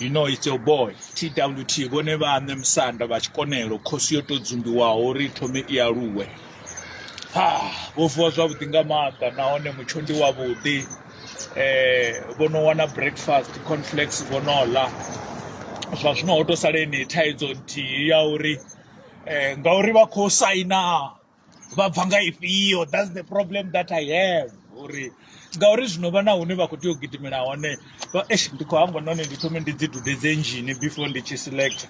You know it's your boy TWT vhone vhaṋe musanda vha tshikonelo khosi yo tou dzumbiwaho uri i thome i aluwe ha vho vuwa zwavhuḓi nga maanḓa nahone mutsho ndi wavhuḓi um vho no wana breakfast conflex vho no ḽa zwa zwino ho tou sala enei thaidzo nthihi ya uri um ngauri vha khou saina vha bva nga ifhio thats the problem that i have uri ngauri zwino vha na hune vha khou tea u gidimela hone eish ndi khou hangwa nahone ndi thome ndi dzi dudedze engine before ndi tshi select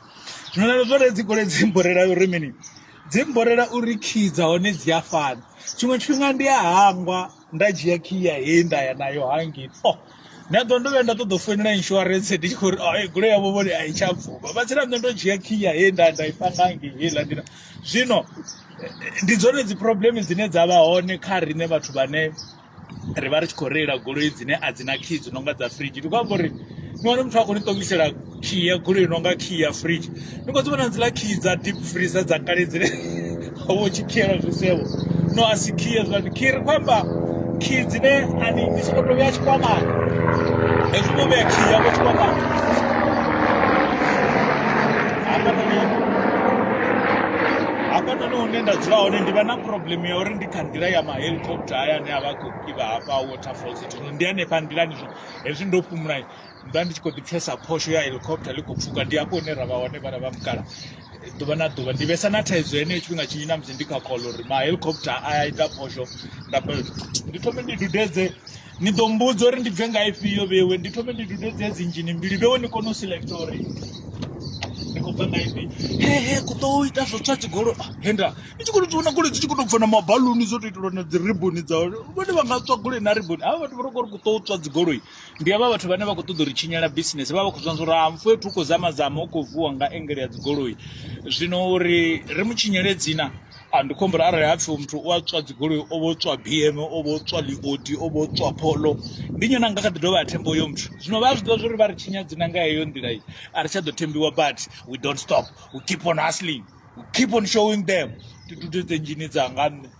zwino na zwone dzi gole dzi mborela uri mini dzi mborela uri key dza hone dzi a fana tshiṅwe tshifhinga ndi a hangwa nda dzhia khiya he nda ya nayo hangei oh nda ḓo ndo vhuya nda ṱoḓa u foinela insurance ndi tshi khou ri oh, eh, goloi yavho vhone a i tsha bvuma vha tsira nṋe ndo dzhia khiya he nda nda i panga hangei heiḽa nḓila zwino eh, ndi dzone dzi problem dzine dza vha hone kha riṋe vhathu vhane ri vha ri tshi khou reila goloi dzine a dzi na khiyi dzi no nga dza fridge ndi khou amba uri ni wane muthu a khou ni ṱomisela khiyi ya goloi no nga khiyi ya fridge ni khou dzi vhona dziḽa khiyi dza deep freezer dza kale dzine vho tshi khiela zwisevho no a si khiyi hezwiḽani khiyi ri khou amba khiyi dzine ani ni songo to vhea tshikwamani hezwi no vhea khiyi yavho tshikwamani hafhanoni hune nda dzula hone ndi vha na problem ya uri ndi kha nḓila ya mahelicopter haya ane a vha khou ivha hafha waterfalls ndi hanefha nḓilani zwo hezwi ndo fhumula nda ndi tshi kho ḓi pfesa phosho ya helicopter ḽi khou pfuka ndi hafho hune ra vha hone vhana vha mukala ḓuvha na ḓuvha ndi vhesa na thaidzo heneyo tshifhinga tshinzhi na musi ndi kha call uri ma helicopter a ya ita phosho nda ndi thome ndi dudedze ni ḓo mbudza uri ndi bve nga ifhio vhewe ndi thome ndi dudedze dzi inzhini mbili vhewe ni kone u select uri ndi khou bva nga ife he he ku ḓo ita zwo tswa dzigolo ah, henda i tshi khou tou vhona goloi dzi tshi khou tou bva na mabaluni zwo tou itelwa na dzi riboni dza vhone vha nga tswa goloi na riboni havha vhathu vha tou kho ri ku ḓo tswa dzigoloi ndi havha vhathu vhane vha khou ṱoḓa uri tshinyela bisinese vha vha khou zwanzwa uri ha mfu fhethu u khou zama zama u khou vuwa nga engele ya dzigoloi zwino uri ri mu tshinyele dzina ndi khombo uri arali ha pfhi muthu u a tswa dzigoloi o vho tswa bm o vho tswa liodi o vho tswa pholo ndi nyone anga kha ḓi dovha a themba uyo muthu zwino vha a zwi ḓivha zwa uri vha ri tshinya dzina nga heyo nḓila iyi a ri tsha ḓo thembiwa but we don't stop we keep on hustling we keep on showing them ndi dude dzenjini dzanga nṋe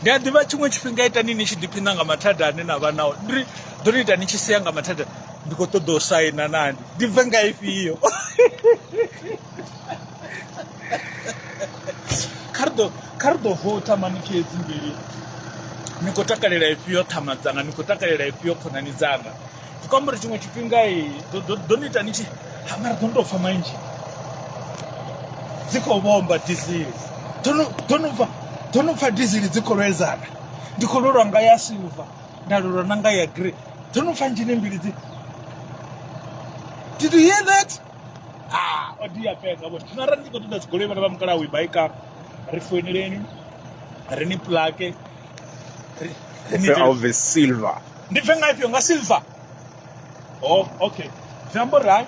ndi a ḓivha tshiṅwe tshifhinga itani ni tshi ḓiphina nga mathada ane na vha nao ndi ḓo ni ita ni tshi sea nga mathada ndi khou ṱoḓa u saina nani ndi bve nga ifhio kha ri ḓo kha ri ḓo vouta mani khedzi mbili ni khou takalela ifhio ṱhama dzanga ni khou takalela ifhio khonani dzanga zvi khou amba uri tshiṅwe tshifhinga ḓo ni ita ni tshi ha mara ḓo ni tou pfa manzhi dzi khou vhomba dizili ḓo no pfa ḓo no pfa dizili dzi khou lwedzana ndi khou lwelwa nga ya silver nda lwelwa na nga ya grey ḓo no pfa nzhini mbili dzi did you hear that ah o dia fhedza vhone zwino arali ndi khou ṱoḓa dzigoloi vhana vha mukalaha u i baika ri foineleni ri ni plake ri ni silver ndi bve nga ifhio nga silver oh okay zwi amba uri hai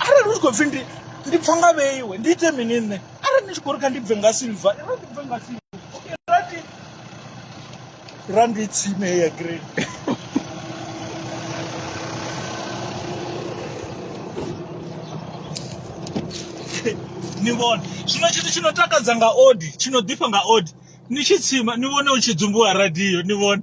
arali u tshi khou pfhi ndi ndi pfa nga vheiwe ndi ite mini nṋe arali ndi tshi khou ri kha ndi bve nga silver ira ndi bve nga silver okay rati ra ndi tsime ya green ni vhona zwino tshithu tshi no takadza nga odi tshi no ḓifha nga odi ni tshi tsima ni vhone u tshi dzumbuwa radio ni vhone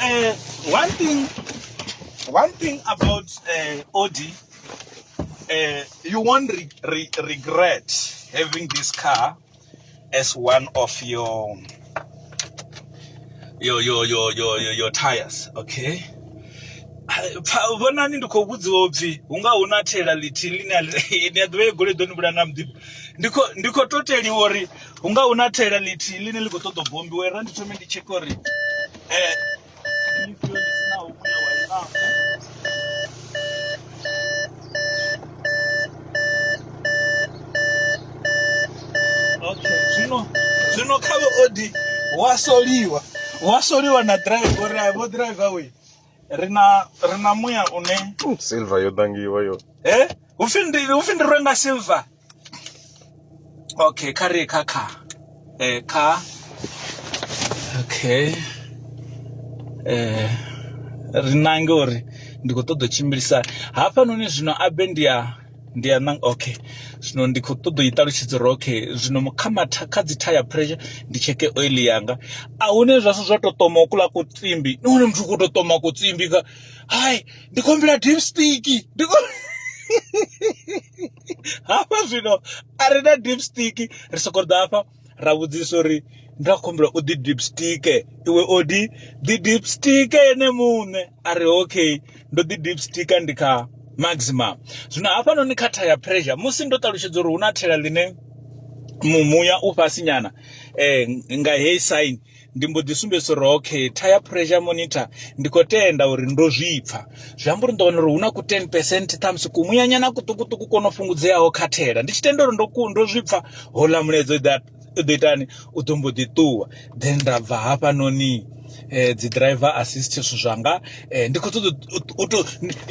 Uh, one thing, one thing about uh, Audi, uh, you won't re re regret having this car as one of your your your your your your, your tires. Okay. pfa- vhonani ndi khou vhudziwa upfhi hu nga hu na thela ḽithihi ḽine a ḽi- ni a ḓivha ye goloi ḓo ni vhulaya nga muḓifho ndi khou- ndi khou toteliwa uri hu nga hu na thela ḽithihi ḽine ḽi khou ṱoḓa u bombiwa ra ndi thome ndi tsheke uri zwino zwino kha vhe odi wa soliwa wa soliwa na drive uri a vho driver we ri na ri na muya une silver yo dangiwa yo eh hu pfi ndi hu pfi ndi rwe nga silver okay kha ri kha kha eh kha okay eh ri nange uri ndi khou ṱoḓa u tshimbilisa hafhanoni zwino abe ndi ya ndi ya nang okay zwino ndi khou ṱoḓa u i ṱalutshedza uri okay zwino kha matha kha dzi tire pressure ndi tsheke oil yanga a hune zwa zwa tou ṱoma ukula ku tsimbi ni hone muthu u khou tou ṱoma ku tsimbi ka hai ndi khou humbela deep stick ndi khou hafha zwino a ri na deep stick ri soko ḓa hafha ra vhudzisa uri nda khumbula u ḓi deep stick iwe o di ḓi deep stick ene muṋe a ri okay ndo ḓi deep stick ndi kha maximum zwino hafhanoni kha tha ya pressure musi ndo ṱalutshedza uri hu na thela ḽine muya u fhasi nyana um nga heyi sign ndi mbo ḓi sumbedzisa uri okay tire pressure monitor ndi khou tenda uri ndo zwi pfha zwi amba uri ndo wana uri hu na ku 10 percent ṱhamusi kumuyanyana kuṱukuṱuku ko no fhungudzeaho kha thela ndi tshi tenda uri ndo ndo zwi pfha houḽa mulaedza u ḓo itani u ḓo mbo ḓi ṱuwa then nda bva hafhanoni eh, dzi driver assist zwithu zwanga eh, ndi khou ṱoḓa u to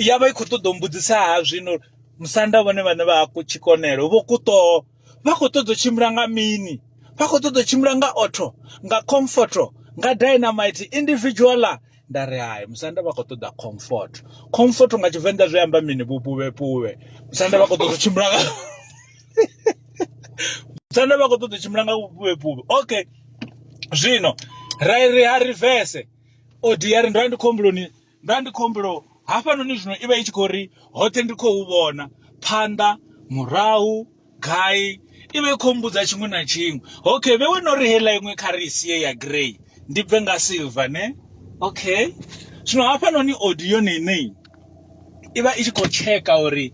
ya vha i khou ṱoḓa u mbudzisa ha zwino musanda vhone vhane vha ku tshikonelo vho kuṱoho vha khou ṱoḓa u tshimbila nga mini vha khou ṱoḓa u tshimbila nga otho nga comforto nga dynamite individuala nda ri hai musanda vha khou ṱoḓa comfort comfort nga tshivenḓa zwi amba mini vhupuvhepuvhe musanda vha khou ṱoḓa u tshimbila nga musanda vha khou ṱoḓa u tshimbila nga vhupuvhepuvhe okay zwino ra ri ha rivese odiari ndo vha ndi khombuloni Nda ndi khou humbula hafhanoni zwino i vha i tshi khou ri hoṱhe ndi khou vhona phanḓa murahu gai i vha i khou mbudza tshiṅwe na tshiṅwe okay vhe wena uri heiḽa iṅwe kha ri sie ya grey ndi bve nga silver ne okay zwino hafhanoni audio nene i vha i tshi khou tsheka uri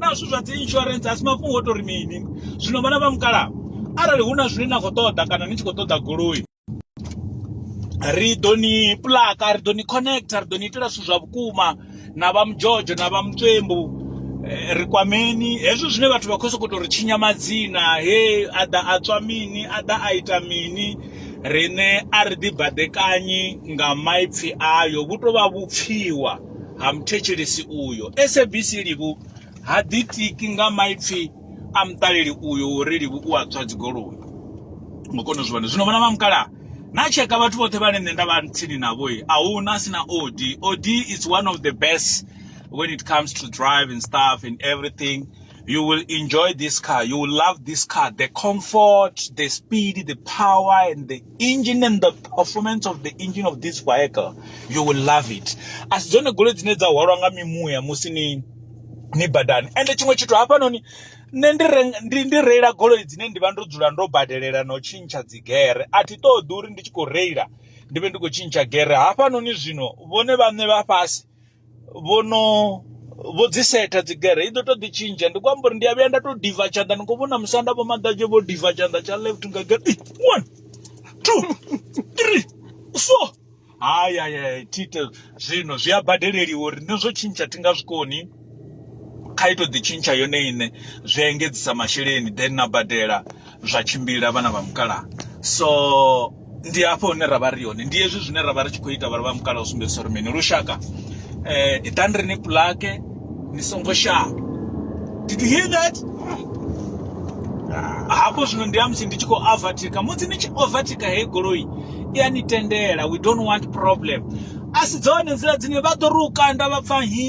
na zwithu zwa dzi insurance a si mafhungo o tori mini zwino vhana vha mukalaha arali hu na zwine na khou ṱoḓa kana ni tshi khou ṱoḓa goloi ri ḓo ni plaka ri ḓo ni connecta ri ḓo ni itela zwithu zwa vhukuma na vha mudzhodzho na vha mutswembu eh, ri kwameni hezwo zwine vhathu vha khou sokou tou ri tshinya madzina he a ḓa a tswa mini a ḓa a ita mini riṋe a ri ḓibaḓekanyi nga maipfhi ayo vhu tou vha vhupfhiwa ha muthetshelesi uyo. SABC Livhu ha ḓitiki nga maipfi a muṱaleli uyo uri Livhu u a tswa dzigoloi. Ngo kona u zwi vhona. Zwino vhona vha mukalaha na tsheka vhathu vhoṱhe vhane nṋe nda vha tsini navho a hu na si na OD. OD is one of the best when it comes to drive and stuff and everything. You will enjoy this car. You will love this car. The comfort, the speed, the power and the engine and the performance of the engine of this vehicle you will love it asi dzone goloi dzine dza hwalwa nga mimuya musi ni ni badani ende tshiṅwe tshithu hafhanoni nṋe ndi ndi ndi reila goloi dzine ndi vha ndo dzula ndo badelela na u tshintsha dzigere a thi ṱoḓi uri ndi tshi khou reila ndi vhe ndi khou tshintsha gere hafhanoni zwino vhone vhaṋe vha fhasi vho no vho dzi setha dzi gere i ḓo to ḓi tshintsha ndi kwamba uri ndi a vhuya nda to diva tshanḓa ni khou vhona musanda vho maḓadzhe vho diva tshanḓa tsha left nga gere Ei, one two three four haya ya thite zwino zwi a badeleliwa uri ni zwo tshintsha thi nga zwikoni kha ito ḓi tshintsha yone iṋe zwi engedzisa masheleni then na badela zwa tshimbila vhana vha mukalaha so ndi hafho hune ra vha ri hone ndi hezwi zwine ra vha ri tshi khou ita vhana vha mukalaha u sumbedzisa uri mini lushaka eh iḓani ri ni pulake ni songo shavha did you hear that hafho zwino ndi ya musi ndi tshi khou overtaker musi ni tshi overtaker heyi goloi i a ni tendela we don't want problem a si dzone nḓila dzine vha ḓo ri u kanda vha pfa hi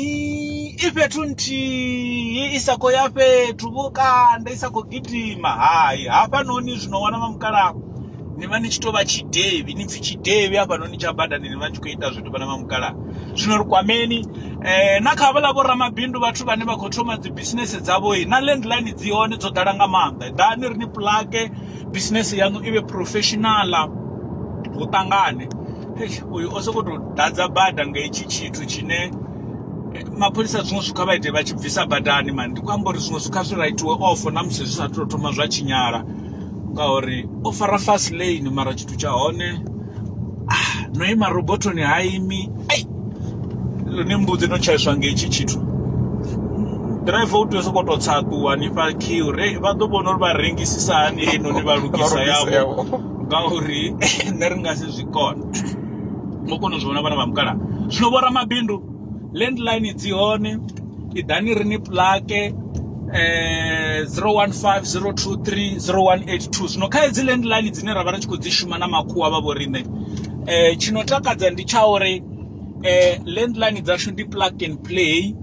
i fhethu nthihi i sa khou ya fhethu vho kanda i sa khou gidima hai hafhanoni zwino wana vha mukalaha ni vha ni tshi tou vha tshidevhi ni pfhi tshidevhi hafhanoni tsha badani ni vha tshi khou ita zwithu vhana vha mukalaha zwino ri kwameni um na kha havhala vhoramabindu vhathu vhane vha khou thoma dzi bisinese dzavho na landline dzi hone dzo ḓala nga maanḓa ḓani ri ni pulage bisinese yaṋu i vhe professionala hu ṱangane uyu o sokou tou ḓadza bada nga hetshi tshithu tshine eh, mapholisa zwiṅwe zwikha vha ite vha tshi bvisa badani mani ndi khou amba uri zwiṅwe zwikha zwi raitiwe ofo na musi zwi sa tou thoma zwa tshinyala ngauri o fara fast lane mara tshithu tsha hone no ima robothoni ha imi ai ni mbudzi no tshaiswa nga hetshi tshithu driver u tea u sokou tou tsa ṱuwa ni fha khiu re vha ḓo vhona uri vha rengisisa hani heinoni vha lugisa yavho ngauri nṋe ri nga si zwi kone ngo kona u zwi vhona vhana vha mukala zwino vho ramabindu landline dzi hone i ḓani ri ni plake eh 0150230182 zwino kha hedzi landline dzine ra vha ri tshi khou dzi shuma na makhuwa vha vho riṋe eh tshino takadza ndi tsha uri eh landline dzashu ndi plug and play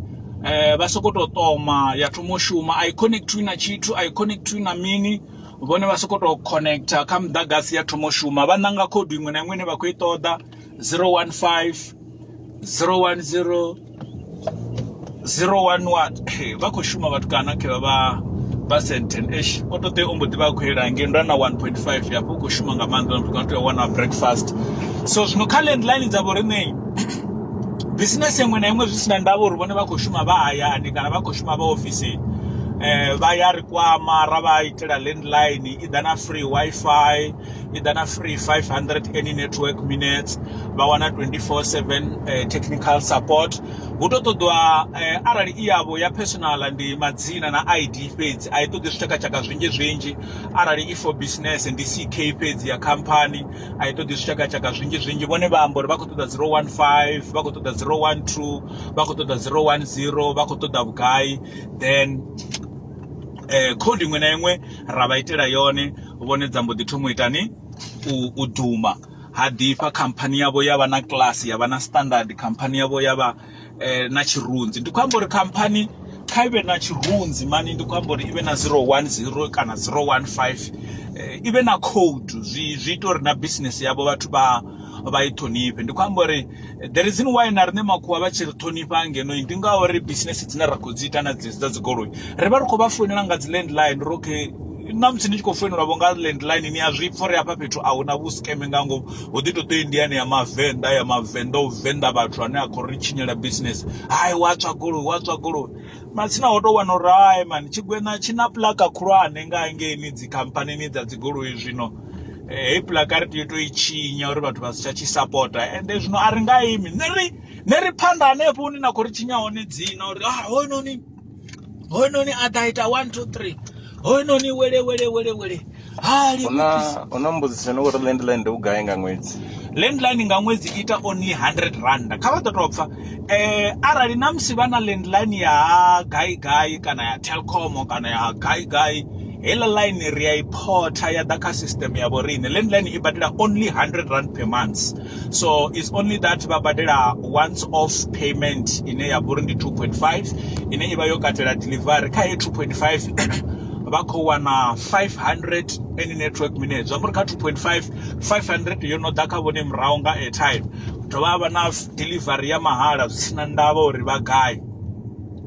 eh vha soko to toma ya thoma u shuma i connect to na tshithu i connect to na mini vhone vha soko to connector kha muḓagasi ya thoma u shuma vha ṋanga khoudu iṅwe na iṅwe ine vha khou i ṱoḓa 015 010 011 vha khou shuma vhathu kana khe vha vha vha senten esh o to tea o mbo ḓivha a khou yela ngei ndana 1.5 yafho u khou shuma nga maanḓa muthu kana tea wana breakfast so zwino kha landline dza vho riṋei business iṅwe na iṅwe zwi si na ndavha uri vhone vha khou shuma vha hayani kana vha khou shuma vha ofisini um vha ya ri kwama ra vha itela landline i ḓa na free wifi i ḓa na free 500 any network minutes vha wana 24/7 eh, technical support hu to ṱoḓwa eh, arali i yavho ya personal ndi madzina na ID fhedzi a i ṱoḓi zwitshakatshaka zwinzhi zwinzhi arali i for business ndi CK fhedzi ya company a i ṱoḓi zwitshakatshaka zwinzhi zwinzhi vhone vha amba uri vha khou ṱoḓa 015 vha khou ṱoḓa 012 vha khou ṱoḓa 010 vha khou ṱoḓa vhugai then eh code iṅwe na iṅwe ra vha itela yone vhone dza mbo ḓi thoma u itani u duma ha ḓifha khamphani yavho ya vha na class ya vha na standard khamphani yavho ya vha eh, na tshirunzi ndi khou amba uri khamphani kha ivhe na tshirunzi mani ndi khou amba uri ivhe na 010 kana 015 eh, ivhe na code zwi zwi ita uri na business yavho vhathu vha vha i ṱhonifhe ndi khou amba uri eh, the reason why na riṋe makhuwa vha tshi ri ṱhonifha ngeno ndi ngauri business dzine ra khou dzi ita na dzedzi dza dzigoloi ri vha ri khou vha founela nga dzi landline ri okay ṋamusi ni tshi khou foinelwa vho nga landline ni a zwi pfha uri hafha fhethu a huna vhusikeme nga ngomu hu ḓi to ṱo i ndiyani ya mavenḓa ya mavenḓa u venḓa vhathu ane a khou ri tshinyela business hai wa tswa goloi wa tswa goloi matsina ho tou wana uri hai mani tshigwena tshi na pulaka khulwane nga hangeini dzi khamphanini dza dzi goloi zwino eh, hei pulaka ri tea u to i tshinya uri vhathu vha si tsha tshi sapota ende zwino a ri nga imi ne ri ne ri phanḓa hanefho hune na khou ri tshinya hone dzina uri ah hoyunoni hoyunoni a ḓa ita 1 2 3 hoyunoni wele wele wele wele hali una una mbudziso no uri landline ndi vhugai nga ṅwedzi landline nga ṅwedzi ita only 100 rand kha vha ḓo tou pfa eh arali na musi vha na landline ya gai gai kana ya telcom kana ya gai gai hela line ri ya i photha ya ḓa kha system ya vho riṋe landline i badela only 100 rand per month so is only that vha badela once off payment ine ya vhori ndi 2.5 ine ivha yo katela delivery kha ye 2.5 vha khou wana 500 any network minutes zwa muri kha 2.5 500 yo no ḓa kha vhone murahu nga airtime dovha havha na delivery ya mahala zwi sina ndavha uri vha gai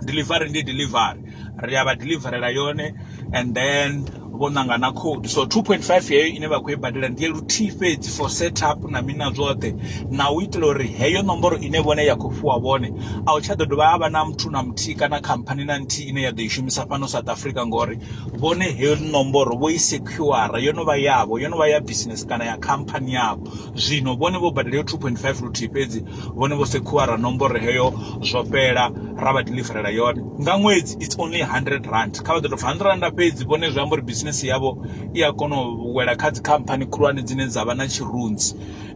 delivery ndi delivery ri a vha deliverela yone and then vho ṋanga na code so 2.5 yeyo ine vha khou i badela ndi ya luthihi fhedzi for set up na mina zwoṱhe na u itela uri heyo nomboro ine vhone ya khou fhiwa vhone a u tsha ḓo dovha ha vha na muthu na muthihi kana khamphani na nthihi ine ya ḓo i shumisa fhano south africa ngori vhone heyo nomboro vho i sekhura yo no vha yavho yo no vha ya business kana ya khamphani yavho zwino vhone vho badela yo 2.5 luthihi fhedzi vhone vho sekhuwara nomboro heyo zwo fhela ra vha deliverela yone nga ṅwedzi it's only 100 rand kha vha ḓo tou 100 rand fhedzi vhone zwi amba uri business yavho i a kona u wela kha dzikhamphani khulwane dzine dza vha na tshirunzi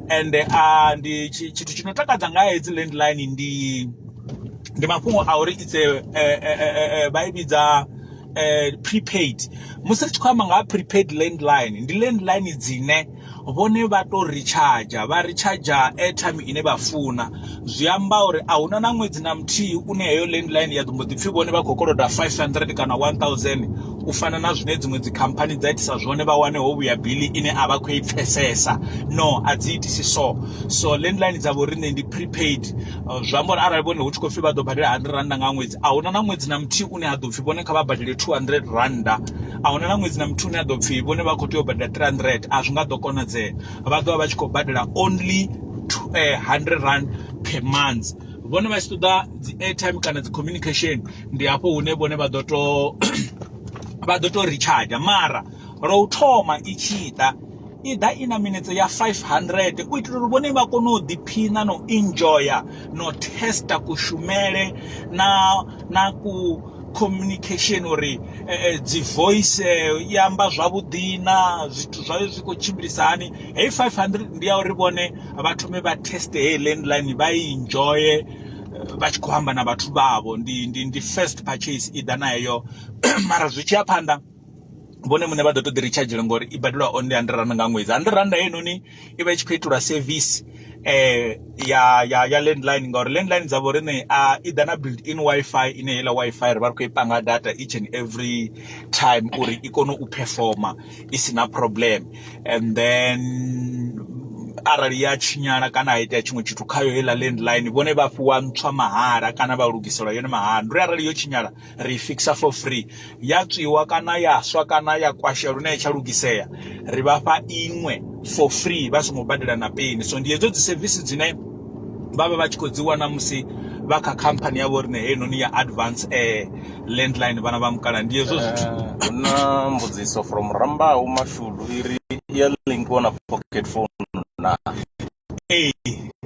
ende a ndi tshithu tshi no takadza nga hedzi landline ndi ndi mafhungo a uri it's a vha i vhidza prepaid musi ri tshi khou amba nga ha prepaid landline ndi landline dzine vhone vha to recharger vha recharger airtime ine vha funa zwi amba uri a huna na ṅwedzi na muthihi une heyo landline ya ḓo mbo ḓi pfhi vhone vha khou koloda 500 kana 1000 u fana na zwine dziṅwe dzi khamphani dza itisa zwone vha wane ho vhuya bili ine a vha khou i pfesesa no a dzi itisi so so landline dza vhoriṋe ndi prepaid uh, zwi amba uri arali vhone hu tshi khou pfhi vha ḓo badela 100 randa nga ṅwedzi a huna na ṅwedzi na muthihi une ha ḓo pfhi vhone kha vha badele 200 randa a huna na ṅwedzi na muthu une a ḓo pfhi vhone vha khou tea u badela 300 a zwi nga ḓo konadzea vha ḓo vha vha tshi khou badela only 100 eh, rand per month vhone vha tshi ṱoḓa dzi airtime kana dzi communication ndi hafho hune vhone vha ḓo to vha ḓo to recharge mara lwa u thoma i tshi ḓa i ḓa i na minetse ya 500 u itela uri vhone vha kone u ḓiphina na u enjoya na u testa kushumele na na ku communication uri eh, eh, dzi voice eh, i amba zwavhuḓi na zwithu zwayo zwi khou tshimbilisa hani heyi 500 ndi ya uri vhone vha thome vha teste heyi landline vha i enjoye vha tshi khou amba na vhathu vhavho ndi, ndi, ndi first purchase i ḓa na heyo mara zwi tshi ya phanḓa vhone muṋe vha ḓo to ḓi ri tshadzhela ngori i badelwa only hundred rand nga ṅwedzi hundred rand heinoni i vha i tshi khou itelwa service eh ya ya ya landline ngauri landline dza vho riṋe a i ḓa na build in wifi ine heiḽa wifi ri vha ri khou i panga data each and every time uri i kone u performer i si na problem and then arali ya tshinyala kana ha itea tshiṅwe tshithu khayo heiḽa landline vhone vha fhiwa ntswa mahala kana vha lugiselwa yone mahala ndi uri arali yo tshinyala. ri i fixa for free ya tswiwa kana ya swa kana ya kwashea lune ya tsha lugisea ri vha fha iṅwe for free vha songo badela na peni so ndi hedzo dzi sevisi dzine vha vha vha tshi khou dzi wana musi vha kha khamphani yavho rine heinoni ya advance air landline vhana vha mukala ndi hezwo zwithu eh, na mbudziso from rambau mashudu iri ya link wana pocket phone na Ee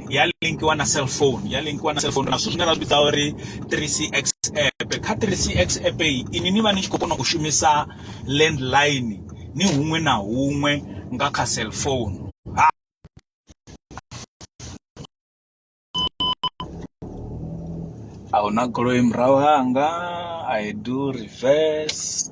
ya linkiwa na cell phone ya linkiwa na cell phone na zwithu zwine ra zwi vhidza uri three C X app kha three C X app inwi ni vha ni tshi khou kona u shumisa land line ni huṅwe na huṅwe nga kha cell phone. Ahuna goloi murahu hanga I do reverse.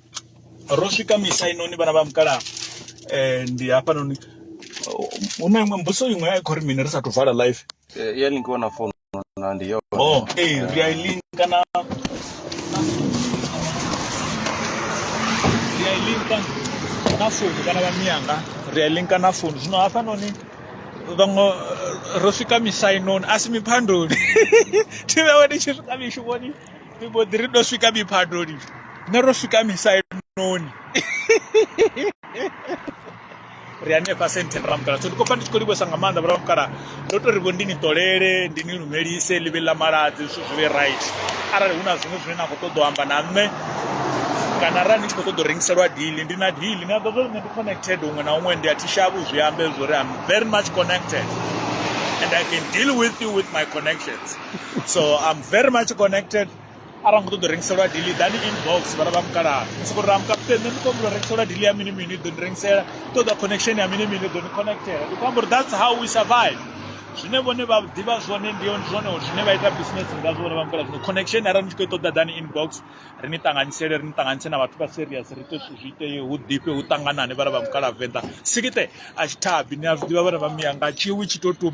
ro swika misa inoni vhana vha mukala eh, ndi hapa noni hu na iṅwe mbuso iṅwe ya khori mini ri sa thu vala live eh, ya ni kona founu na ndi yo oh eh ri a link kana ri a link na founu kana vha miyanga ri a link na founu zwino hafha noni vhaṅwe ro swika misa inoni a si miphandoni thi vhewe ndi tshi swika mishumoni ri mbo ḓi ri ndo swika miphadoni nṋe ro swika misainoni ri hanefha senthen ramukala so ndi khou pfa ndi tshi khou livhesa nga maanḓa vharamukala ndo to ri vho ndi ni ṱolele ndi ni lumelise ḽivhe ḽa maladzi zwithu zwi vhe right arali hu na zwiṅwe zwine na khou ṱoḓa u amba na nṋe kana arali ni tshi khou ṱoḓa u rengiselwa dili ndi na dili ni a ḓo zwo nṋe ndi connected huṅwe na huṅwe ndi a thi shavhu zwi ambe zwori am very much connected and i can deal with you with my connections so i'm very much connected arali nga ṱoḓo rengiselwa dili dani inbox vhala vha mukalaha soko ri ramukaputeni nṋe ndi khou humbula rengiselwa dili ya mini mini ḓo ni rengisela ṱoḓa connection ya mini mini ḓo ni connectela ndi khou amba uri that's how we survive zwine vhone vha ḓivha zwone ndi zwone zwine vha ita business nga zwo vha mukala zwino connection arali ni tshi khou ṱoḓa dani inbox ri ni ṱanganyisele ri ni ṱanganyise na vhathu vha serious ri ite zwithu zwi itee hu ḓifhe hu ṱanganane vhala vha mukala venḓa sikite a tshi thabi ni a zwi ḓivha vhana vha miya nga tshiwi tshi to tuma